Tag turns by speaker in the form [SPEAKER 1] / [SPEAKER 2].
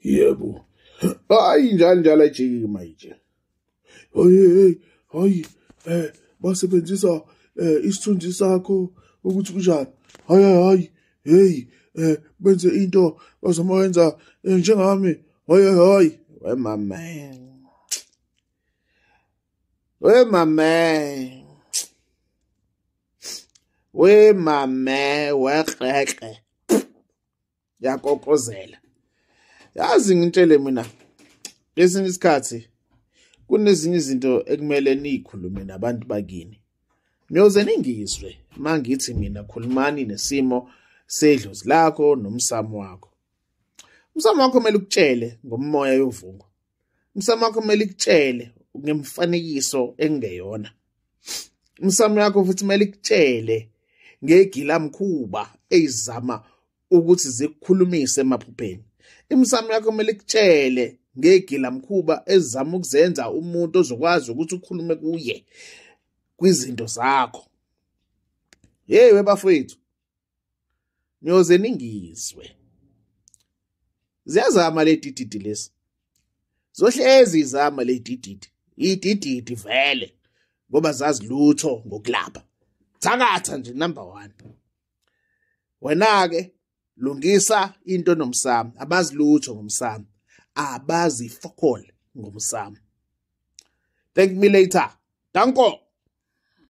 [SPEAKER 1] yebo hayi njani njalo ejiki manje hey hayi eh basebenzisa eh isithunzi sakho ukuthi kunjani hayi hayi hey eh benze into bazomayenza eh, njengami hayi hayi wemama We mame. We mame wekreke. Yakokozela. Yazi ngintshele mina. Lesinye isikhathi kunezinye izinto ekumele niyikhulume nabantu bakini. Niyoze ningizwe mangithi mina khulumani nesimo sedlozi lakho nomsamo wakho. Umsamo wakho kumele ukutshele ngomoya yovungu. umsamo wakho kumele ikutshele ngemfanekiso engeyona umsamo yakho futhi kumele ikutshele ngegilamkhuba eyizama ukuthi zikukhulumise emaphupheni imisamo yakho kumele ikutshele ngegilamkhuba ezizama ukuzenza umuntu ozokwazi ukuthi ukhulume kuye kwizinto zakho yeyi webafowethu niyoze ningizwe ziyazama le dididi lesi zohlezi izama le dididi idididi vele ngoba zazi lutho ngokulapha thakatha nje number 1 wena ke lungisa into nomsamo abazi lutho ngomsamo abazi fokol ngomsamo thank me later danko